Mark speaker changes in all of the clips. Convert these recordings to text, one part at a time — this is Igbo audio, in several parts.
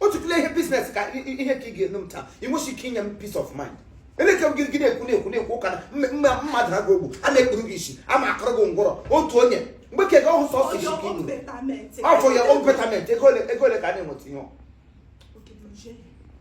Speaker 1: otu tụle ihe business ka ihe ka ị ga-enu m taa ị nwesị ike inye m peace of mind eleke gị gị na-ekwu na-ekwu na-ekwu ụka na mmadụ na gị ogbu a na-ekpuru gị isi a ma akọrọ gị ngwọrọ otu onye mgbe ka ego ọhụ sọsọ isi ka inu ọ for your own betterment ego ole ka a na-enweta ihe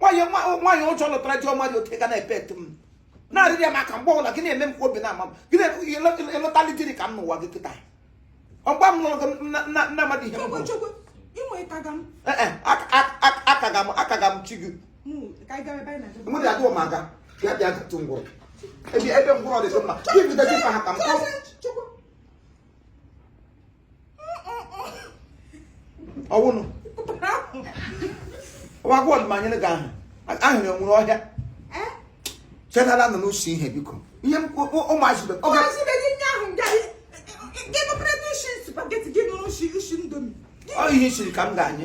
Speaker 1: nwaanyị ụjọ lụtara ji ọma dị oke ga na-epe etu m na-arịrị ya maka mgbe ọbụla gị na-eme m ka obi na-ama m gị na-elọtali diri ka m n'ụwa gị kịta ọ gba m lụrụ gị nna mmadụ ihe akaga m chi gị mụ dị adịghị m aga bịa bịa gatụ ngwụrụ ebe ngwụrụ ọ dị mma gị bidezi mkpa ha ka m kọọ ọwụnụ wakwa ọdịmanyere gị ahụ ahụ na-enwere ọhịa chetara nọ n'usi ihe biko ihe ụmụazị be oge ọ ihe siri ka m ga-anye